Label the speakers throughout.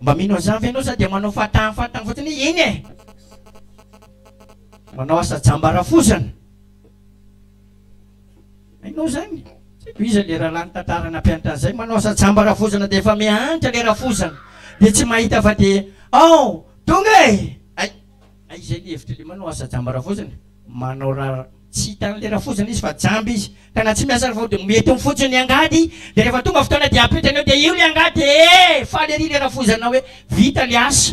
Speaker 1: Mba mino an'izany ve ianao sa dia manao fahataha fahataha fotsiny hoe eny e! Manao asa jamba rafozana. Hainao izany? Tsy haiko iza ilay rahalahy nitantara nampianatra an'izay, manao asa jamba rafozana dia efa mihantra ilay rafozana dia tsy mahita fa dia ao! Tonga e! Hay! Hay izay ny hevitry ilay manao asa jamba rafozana, manao ra-. Tsy hitan'ny lera fotsiny izy fa jamba izy ka na tsy miasa ary vao dia mety eo fotsiny ny angady dia rehefa tonga fotoana dia ampitany eo dia io ilay angady dia ee faly ery ilay rafoizana hoe vita ilay asa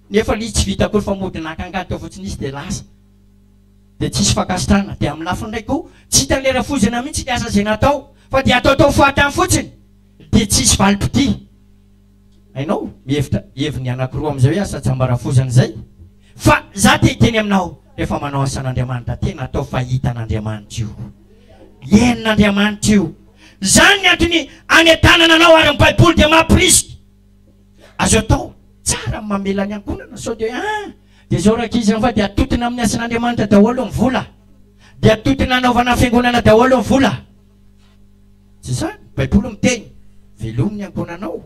Speaker 1: nefa ilay izy tsy vita akory fa mody naka angady teo fotsiny izy dia lasa dia tsisy fankasitrahana dia amin'ny lafiny iray koa tsy hitan'ny lera foizana mihitsy ilay asa izay natao fa dia ataotao fahatany fotsiny dia tsisy valim-pitia Hainao, mihevitra heviny anankiroa amin'izay hoe asa tsiambarafozana izay. Fa izaho te hiteny aminao, rehefa manao asan'Andriamanitra, tena atao fa hita an'Andriamanitra io. Henon'Andriamanitra io. Izany ny antony hanetanana anao, ary ny Baiboly dia mampirisika. Azo atao, tsara ny mamela ny ankohonana, sao dia, ah! dia izao rankizy an, fa dia atotona amin'ny asan'Andriamanitra daholo ny vola. Dia atotona hanaovana fiangonana daholo ny vola. Tsy izany? Ny Baiboly miteny, Velomy ny ankohonanao.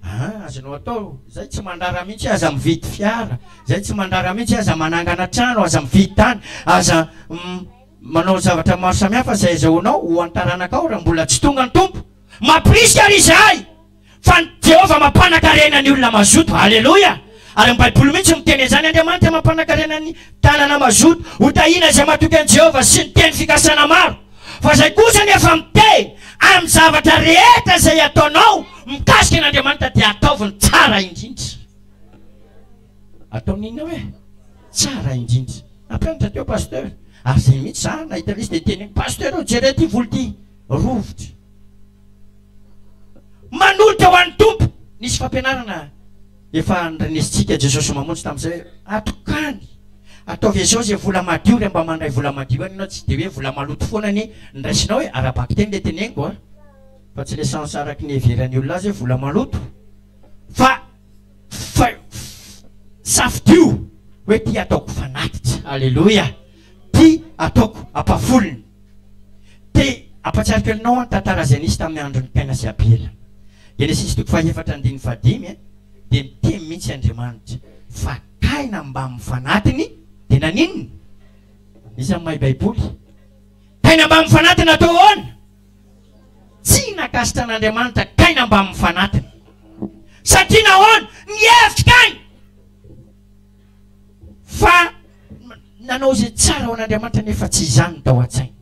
Speaker 1: Aa azonao atao izay, tsy mandrara mihitsy aza mividy fiara, izay tsy mandrara mihitsy aza manangana trano, aza mividy tany, aza manao zavatra maro samihafa izay azahoanao ho an'ny taranakao raha mbola tsy tonga ny Tompo. Mamporisika ary izahay! Fa ny Jehovah mampanakarena ny olona mazoto. Aleloia! Ary ny Baiboly mihitsy miteny an'izany, Andriamanitra mampanakarena ny tanana mazoto. Hotahiana izay matoky an'i Jehovah sy ny teny fikasana maro. Fa izay kosa anefa mitehy amin'ny zavatra rehetra izay ataonao mikasika an'Andriamanitra dia ataovy ny tsara indrindra. Ataovy ny inona hoe? Tsara indrindra. Nampianatra teo Pasteur. Ary izay mihitsy za nahita an'izy dia niteny hoe, Pasteur ô jereo ity volo ity, rovitra. Manolotra ho an'ny Tompo. Nisy fampianarana efa nirnesintsika Jesosy Mamonjy tamin'izay hoe, atokany, ataovy izao izay vola madio re mba mandray vola madio any ianao, tsy dia hoe vola maloto foana anie ndraisinao e, ara-bakiteny le teneniko a, fa tsy le sens araky ny iheveran'ny olona azy hoe vola maloto, fa fa safidio hoe ty ataoko fanatitra. Aleloia. Ty ataoko ampahafolony. Te ampatsiariko anao an tantara zay nisy tamin'ny andron'i Kaina sy Abela. Genesisy toko faha efatra andininy faha dimy an dia miteny mintsy Andriamanitra fa Kaina mbamin'ny fanatiny dia naninona? Iza no mahay baiboly? Kaina mbamin'ny fanatiny natao ahoana? Tsy nakasitra an'Andriamanitra Kaina mbamin'ny fanatiny. Satria nahoana? Nihevitra Kaina! fa nanao izay tsara ho an'Andriamanitra nefa tsy izany no tao an-tsainy.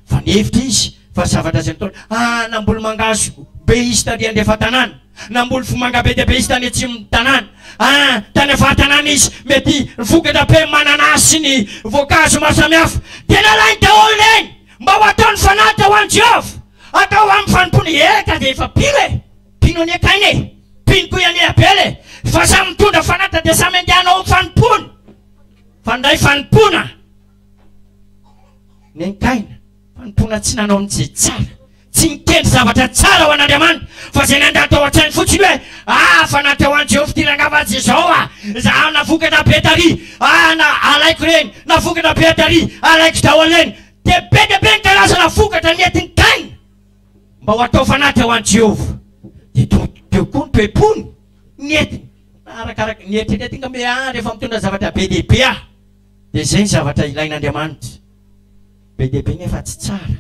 Speaker 1: Fa nihevitra izy fa zavatra izay nataony, ah, namboly mangahazo be izy taty andrefa tanàna, namboly vomanga be dia be izy tany atsimon'ny tanàna, ah, tany avaha-tanàna izy, mety vokatra be mananasy sy ny voankazo maro samihafa. Dia nalainy daholo ireny mba ho ataony fanatitra ho an'i Jehovah, atao amin'ny fanompoana. Eka, dia efa pino e! Mpino anie kaina e! Mpino koa i Aniabela e! Fa samy mitondra fanatitra dia samy andeha hanao ny fanompoany! Fa ny ray fanompoana nenkaina, fanompoana tsy nanao ny tsy tsara, tsy nikendry zavatra tsara ho an'Andriamanitra, fa izay nandà tao an-tsainy fotsiny hoe, Ah, fa na teo any Jehovah ity rangahy fa aza izao ah! Izaho navokatra be tary, ah, na alaiko ireny, navokatra be tary, alaiko daholo ireny! Dia be dia be ny karazana vokatra nentin'i Kaina! mba ho atao fanaty ho an'i Jehovah, dia todidio koa ny toe-pony, ny hetiny, na arakaraka ny eritreretiny. Ka hoe, Ah, rehefa mitondra zavatra be dia be aho, dia izay ny zavatra ilain'Andriamanitra. Be dia be nefa tsy tsara.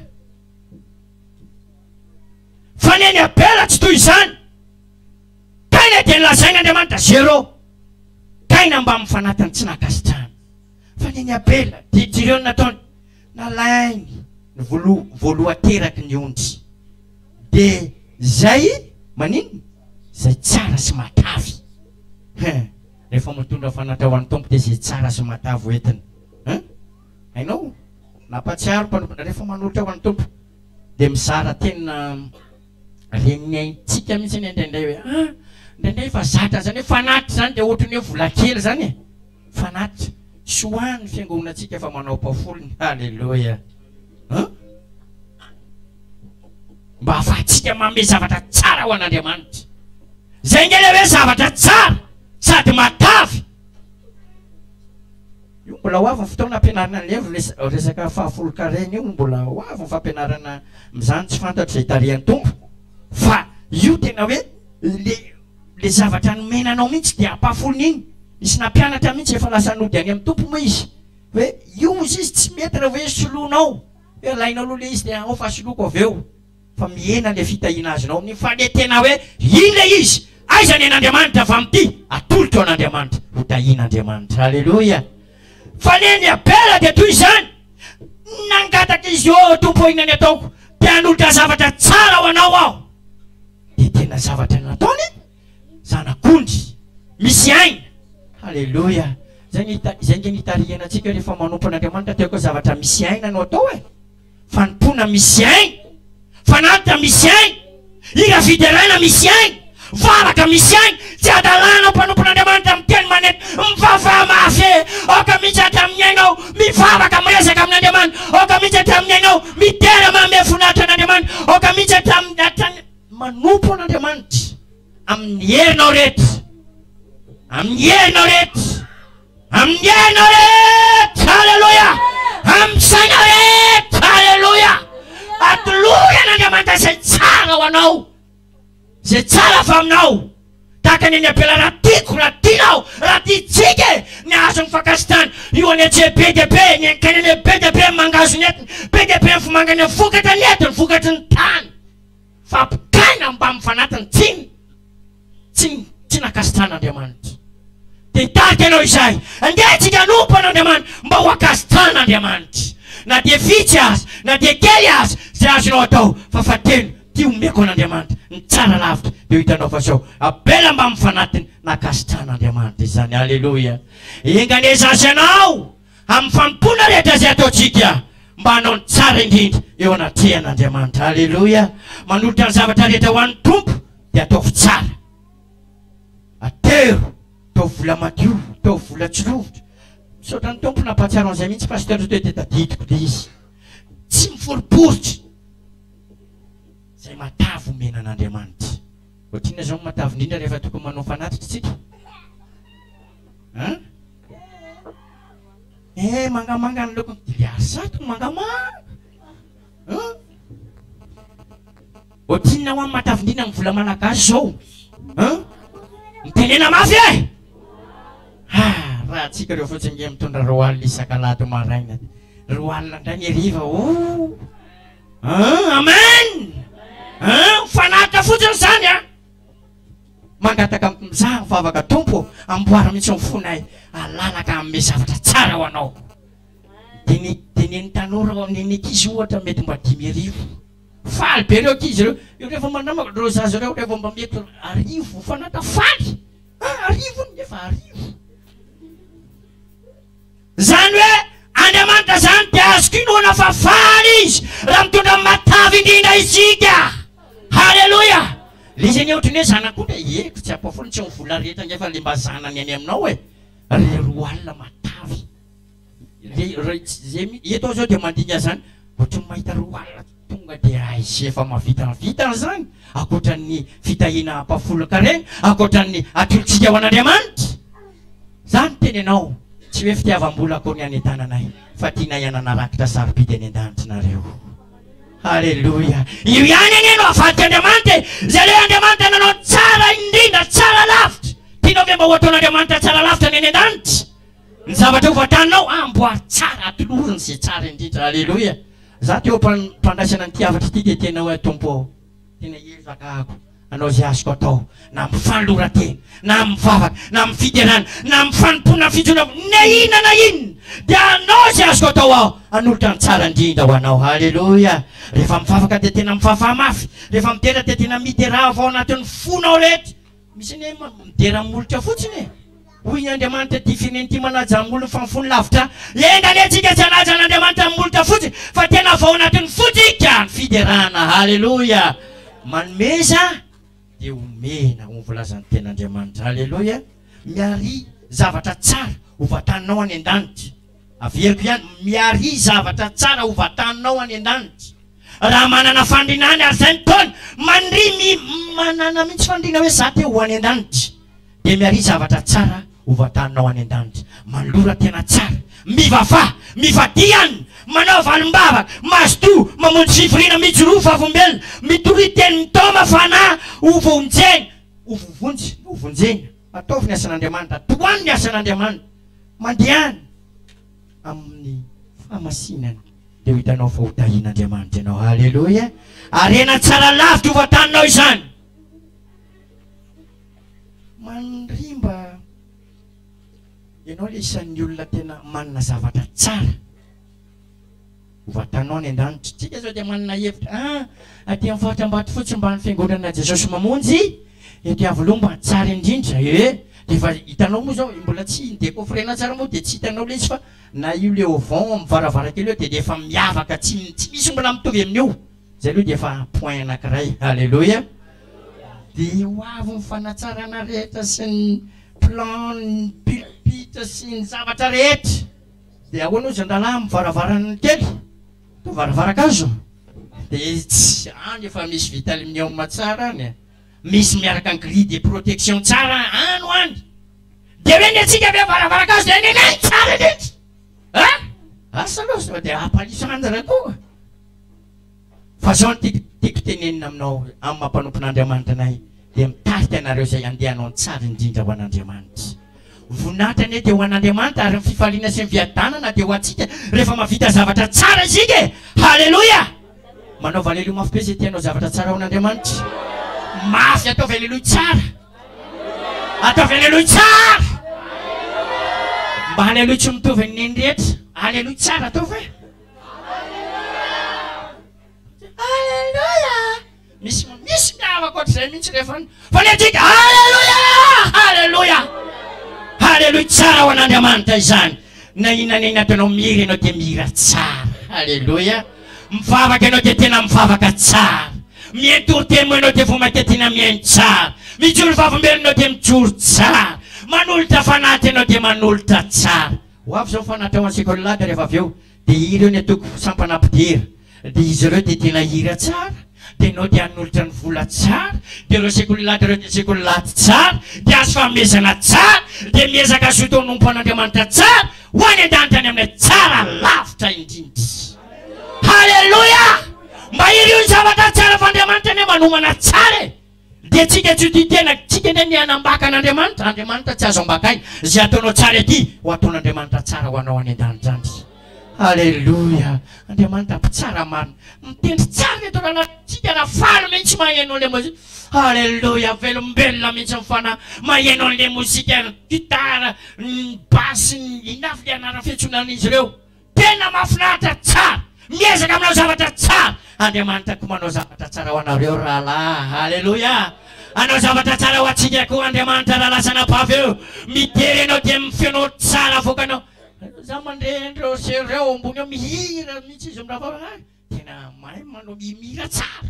Speaker 1: Fa ny an'i Abela tsy toy izany. Taina dia nolazain'Andriamanitra zéro. Taina mbamin'ny fanatiny tsy nankasitrahana. Fa ny an'i Abela, dia jereo ny nataony. Nalainy ny voloha voalohan-teraky ny ondry. Dia izay maninona? Izay tsara sy matavy. Hein! Rehefa mitondra fanatitra ho an'ny Tompo dia izay tsara sy matavy ho entiny. Hein! Hainao? Nampahatsiaro ny mpanompo, rehefa manolotra ho an'ny Tompo, dia mizara tena ren'ny aintsika mihitsy anie indraindray hoe, ah! indraindray efa zatra izany hoe fanatitra izany dia ohatran'ny hoe vola kely izany e! Fanatitra sy ho an ny fiangonantsika fa manao pao folony. Aleloia an! Mba afahantsika manome zavatra tsara ho an Andriamanitra. Zay nge le hoe zavatra tsara sady matavy. Io mbola ho avy ny fotoana ampianarana anle resaka fahafolon-karena io mbola ho avy ny fampianarana amzany tsy fantatro zay tarihan'ny Tompo fa io tena hoe le Le zavatra nomena anao mintsy dia ampafony iny, nisy nampianatra mintsy efa lasa nody any am Tompo moa izy hoe io ozy izy tsy mety raha hoe soloinao hoe alainao aloha le izy de ao fa soloiko avy eo fa mihena le fitahiana azonao amin'iny fa le tena hoe iny le izy aiza ny an'Andriamanitra avy amty atolotro an'Andriamanitra ho tahian'Andriamanitra haleloia fa le ny Abela de toy izany nangataka izy ô Tompo o inona ny ataoko te hanolotra zavatra tsara ho anao aho dia tena zavatra nataony zanak'ondry misy aina aleloia zay ny ita- zay nge nitarihana antsika rehefa manompo an'andriamanitra dia koa zavatra misy aina no atao e fanompoana misy aina fanatitra misy aina hira fideraina misy aina varaka misy aina Tsy hadalana ho mpanompon'Andriamanitra miteny manentana. Mivavaha mafe aoka mihitsy hatramin'ny aina aho, mivavaka, miresaka amin'Andriamanitra aoka mihitsy hatramin'ny aina aho, midera manome voninahitra an'Andriamanitra aoka mihitsy hatramin'ny, hatramin'ny. Manompo an'Andriamanitra amin'ny herinao rehetra, amin'ny herinao rehetra, amin'ny herinao rehetra, haleloia, amin'ny sainao rehetra, haleloia, atolory an'Andriamanitra izay tsara ho anao. Zay tsara avy aminao. Tahaka ny an'i Abela raha tiako, raha tianao, raha tiantsika e! Ny hazo mifankasitany, io anetse be dia be, ny ankainene be dia be ny mangahazo nentiny, be dia be ny vomangane vokatra nentiny, vokatry ny tany, fa ampitaina mbamin'ny fanatiny, tsy ny, tsy ny, tsy nankasitrahan'Andriamanitra. Dia hitarika anao Izahay. Andeha antsika hanompo an'Andriamanitra mba ho ankasitrahan'Andriamanitra. Na dia vitsy aza, na dia kely aza, izay azonao atao, fa fateno. Ty omeko an'Andriamanitra ny tsara lavitra de ho hitanao fa sao Abela mba mifanatiny nankasitrahan'Andriamanitra izany Aleloia Enga anie zaza ianao amin'ny fanompoana rehetra izay ataontsika mba hanao ny tsara indrindra eo anatrehan'Andriamanitra Aleloia Manolotra ny zavatra rehetra ho an'ny Tompo de ataovy tsara Atero Ataovy vola madio Ataovy vola tsy rovitra Misaotra ny Tompo nampahatsiaro an'izay mihitsy Pasteur Toa dia tadidiko dia izy Tsy miforiporitra izay matavy omena an'Andriamanitra. Ohatrinona izao ny matavy indrindra rehefa tokony manao fanatitra isika? An? Eh, mangamanga ny lokony. Dia ilay arsat no mangamanga. An? Ohatrinona hoa ny matavy indrindra ny vola malagasy izao? An? Mitenena mafy e! Eh! Ah, raha antsika ireo fotsiny nge mitondra roa alina isaka-lahady maraina. Roa alina indray ny hariva. Oh! Ah, amen! Ah, mifanaraka fotsiny izany a! Ah. Mangataka mizaha ny vavaka tompo, amboara mihitsy ny fonay, alalaka amin'ny zavatra tsara ho anao. Dini, dini ny tanora ao amin'ny ankizy ohatra mety mba dimy arivo. Faly be ireo ankizy ireo. Io rehefa manama ireo zaza ireo rehefa mba mety arivo mifanaraka faly. Ah, arivo ny efa arivo. Izany hoe Andriamanitra izany dia azoko inoana fa faly Izy raha mitondra ny matavy indrindra isika. Haleloia! Ilay izy anie ohatran'ny hoe zanakao ilay hevitra tsy ampahafony, tsy amin'ny vola rehetra ange fa ilay mba zanany any aminao e! Ry roa alina matavy. Ilay iray tsy izay mihitsy, eto aho izao dia mandinika izany, ohatran'ny mahita roa alina. Tonga dia raha izay efa mahavitavita izany, ankoatra ny fitahiana hampahafolon-karena, ankoatra ny atolotsika ho an'Andriamanitra. Izaho niteny ianao, tsy hoe fitiavam-bola akory ny hanentananay, fa tianay hanana rakitra sarobidy any an-danitra nareo. Aleloia! Io ihany anie no avadik'Andriamanitra e! Izay ilay Andriamanitra nanao ny tsara indrindra, tsara lavitra. Tianao ve mba ho ataon'Andriamanitra tsara lavitra ny any an-danitra? Ny zavatra hovatanao, amboary tsara, atolory ny izay tsara indrindra. Aleloia! Za te ho mpandraisana an'ity hafatra ity de tena hoe Tompo ô tena hiezaka ako hanao ze azoko atao na am fanoratena na am vavaka na am fiderana na am fanompoana fijona na inona na inona de hanao ze azoko atao aho hanolotra ny tsara indrindra ho anao haleloia rehefa mivavaka de tena mivafaha mafy rehefa midera de tena midera avy ao anatin'ny fonao rehetra misy anie midera molotra fotsiny e Hoy ny Andriamanitra, Difinem ty manaja am olon fa ny fony lavitra Enga anie tsika tsy hanaja an Andriamanitra am molotra fotsiny fa tena vao anatiny fo tsika ny fiderana Haleloia Manomeza dia omena ho ny voalazan ny tena Andriamanitra Haleloia Miaria zavatra tsara ho vataninao any an danitra. Averiko ihany, miaria zavatra tsara ho vataninao any an-danitra raha manana fandriana any ary izay ny taona mandria mi manana mihitsy fandriana hoe za te ho any an-danitra dia miaria zavatra tsara ho vataninao any an-danitra mandrora tena tsara mivavaha mifadian manao valim-bavaka mazotoa mamonjy fivoriana mijoroa vavolombelona mitory teny mitao mafana ho vonjena ho vovonjy ho vonjena Ataovy ny asan'Andriamanitra, tohano ny asan'Andriamanitra, mandehana amin'ny fahamasinana, dia ho hitanao fa ho tahin'Andriamanitra ianao. Haleloia! Harena tsara lavitra ho vataninao izany. Mandrimba ianao ilay isan'ny olona tena manana zavatra tsara. Vatanao any an-danitra. Tsika zao dia manana hevitra a! Aty amin'ny faritra Ambatofotsy mba any fiangonana Jesosy Mamonjy ety Iavoloha mba tsara indrindra ee! Dia efa hitanao moa zao mbola tsy ni-decoffrer-na tsara moa dia tsy hitanao ilay izy fa na io le auvent amin'ny varavarankely eo dia dia efa miavaka tsy tsy misy mbola mitovy amin'io! Zay aloha dia efa point anankiray. Aleloia! Dia ho avy ny fanatsarana rehetra sy ny plan ny pulpit sy ny zavatra rehetra. Dia ahoana hoy zandalahy amin'ny varavaran'ny kely? Toa varavaran-kazo? Dia etsy, any efa misy vitalmium tsara any, misy miaraka ny grille de protection tsara any ho any. Dia hoe ny antsika ve varavaran-kazo dia ny anay tsara indrindra? Asa aloha sao dia hampaliso any raha toa. Fa zao no tiako tiako tenenina aminao, amin'ny maha mpanompon'Andriamanitra anay, dia mitarika anareo izay handeha hanao ny tsara indrindra ho an'Andriamanitra. Voninahitra anie dia ho an'Andriamanitra, ary ny fifaliana sy ny viadanana dia ho antsika rehefa mahavita zavatra tsara isika e! Haleloia! Manaova aleloia mafy be izay te hanao zavatra tsara ho an'Andriamanitra. Mafy, ataovy aleloia tsara! Ataovy aleloia tsara! Mba aleloia tsy mitovy ny neny rehetra. Aleloia tsara ataovy e! Aleloia! Misy misy miavaka ohatr'izay mihitsy rehefa ny fanenjika. Aleloia! Aleloia! Aleloia! Tsara ho an'Andriamanitra izany. Na inona na inona ataonao mihira ianao dia mihira tsara. Aleloia! Mivavaka ianao dia tena mivavaka tsara. Mientory temo ianao dia vao mainka tena mihaino tsara. Mijoro vavolombelona ianao dia mijoro tsara. Manolotra fanahy ianao dia manolotra tsara. Ho avy izao ny fanatrehan'i Sekoly-Lady rehefa avy eo dia hira eo ny antoko Sampana Mpidera dia izy ireo dia tena hira tsara dia nao dia hanolotra ny vola tsara dia ireo Sekoly-Lady ireo dia Sekoly-Lady tsara dia azo fanomezana tsara dia miezaka hazoto hanompo an'Andriamanitra tsara ho any an-danitra any amin'ilay tsara lavitra indrindra. Haleloia! Mba hiriho ny zavatra tsara fa Andriamanitra anie manomana tsara e! Dia tsika tsy ho tia tena tsika ndray ny hanambaka an'Andriamanitra, Andriamanitra tsy azo ambakaina, izay ataonao tsara ety ho ataon'Andriamanitra tsara ho anao any an-danitra any. Aleloia! Andriamanitra mpitsara marina, mitendry tsara ny atao lalàna amintsika raha faly mihitsy maheno an'ilay mozika. Aleloia! Velombelona mihitsy ny fanahy maheno an'ilay mozika, ny gitara, ny basy, ny inona avy ilay anara-fihetsonan'izy ireo. Tena mafinaritra tsara miezaka manao zavatra tsara Andriamanitra koa manao zavatra tsara ho anareo rahalahy Aleloia Hanao zavatra tsara ho antsika koa Andriamanitra raha lasa anabavy eo mijery anao dia ny feonao tsara avoakanao Za mandre an'ireo sera ireo ao ambony ao mihira mihitsy izy mirava Tena mahay manao mihira tsara